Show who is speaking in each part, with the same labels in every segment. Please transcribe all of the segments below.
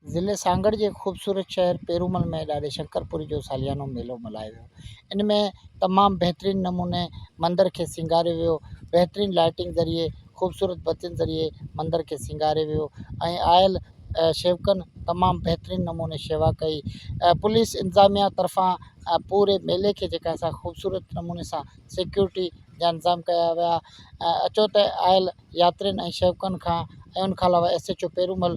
Speaker 1: ضلعي سانگهڙ جي خوبصورت شهر پيرومل ۾ ڏاڏي شنڪر پوري جو ساليانو ميلو ملهايو ويو ان ۾ تمام بهترين نموني مندر کي سينگاريو ويو بهترين لائٽنگ ذريعي خوبصورت بتين ذريعي مندر کي سينگاريو ويو ۽ آيل شيوڪن تمام بهترين نموني شيوا ڪئي پوليس انتظاميا طرفان پوري ميلي کي جيڪا سا خوبصورت نموني سان سيڪيورٽي جا انتظام ڪيا ويا اچو ته آيل ياترين ۽ شيوڪن کان ۽ ان کان علاوه ايس ايچ او پيرومل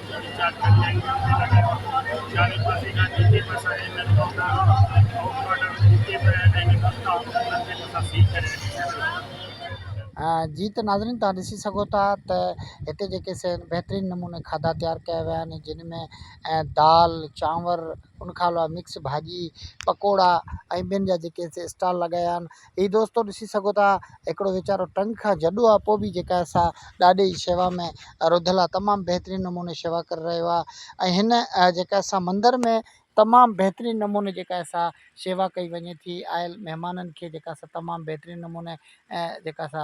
Speaker 1: جي ته ناظرين توهان ڏسي سگهو ٿا ته هتي جيڪي سي بهترين نموني کاڌا تيار ڪيا ويا آهن جن ۾ دال چانور ان کان علاوه مڪس ڀاڄي پڪوڙا ۽ ٻين جا جيڪي سي اسٽال لڳايا آهن هي دوستو ڏسي سگهو ٿا هڪڙو ويچارو ٽنگ کان جڏو آ پو به جيڪا سا ڏاڏي جي شيوا ۾ رڌل آ تمام بهترين نموني شيوا ڪري رهيو آ ۽ هن جيڪا سا مندر ۾ تمام بهترين نموني جيڪا سا شيوا ڪئي وڃي ٿي آيل مهمانن کي جيڪا سا تمام بهترين نموني جيڪا سا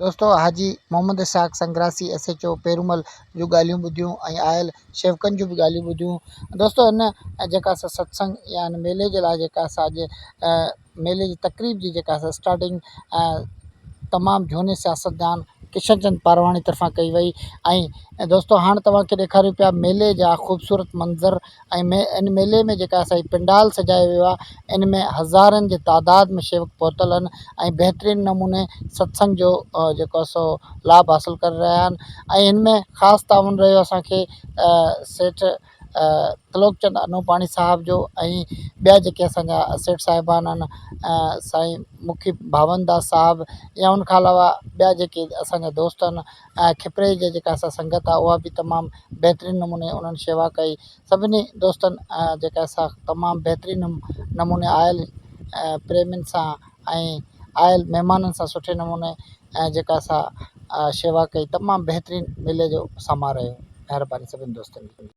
Speaker 1: دوستو Haji Muhammad Ishaq Sangrasi S H O Peromal جون ڳالهيون ٻڌيون ۽ آيل شيوڪن جون به ڳالهيون ٻڌيون دوستو هن جيڪا اسان ستسنگ يا هن ميلي جي لاء جيڪا اسان اڄ ميلي جي تقريب جي جيڪا اسان اسٽارٽنگ تمام جھوني سياستدان ڪشن چند پارواڻي طرفان ڪئي وئي ۽ دوستو هاڻ توهان کي ڏيکاريون پيا ميلي جا خوبصورت منظر ۽ ان ميلي ۾ جيڪا اسان جي پنڊال سجايو ويو آهي ان ۾ هزارن جي تعداد ۾ شيوڪ پهتل آهن ۽ بهترين نموني ستسنگ جو جيڪو آهي سو لاڀ حاصل ڪري رهيا آهن ۽ ان ۾ خاص تعاون رهيو اسانکي سيٺ ترلوڪ چند انوپاڻي صاحب جو ۽ ٻيا جيڪي اسانجا سيٺ صاحبان آهن سائين مکي ڀاونداس صاحب يا ان کان علاوه ٻيا جيڪي اسانجا دوست آهن کپريء جي جيڪا سا سنگت آ اها به تمام بهترين نموني انهن شيوا ڪئي سڀني دوستن جيڪا سا تمام بهترين نموني آيل پريمين سان ۽ آيل مهمانن سان سٺي نموني جيڪا سا شيوا ڪئي تمام بهترين ميلي جو سماء رهيو مهرباني سڀني دوستن جي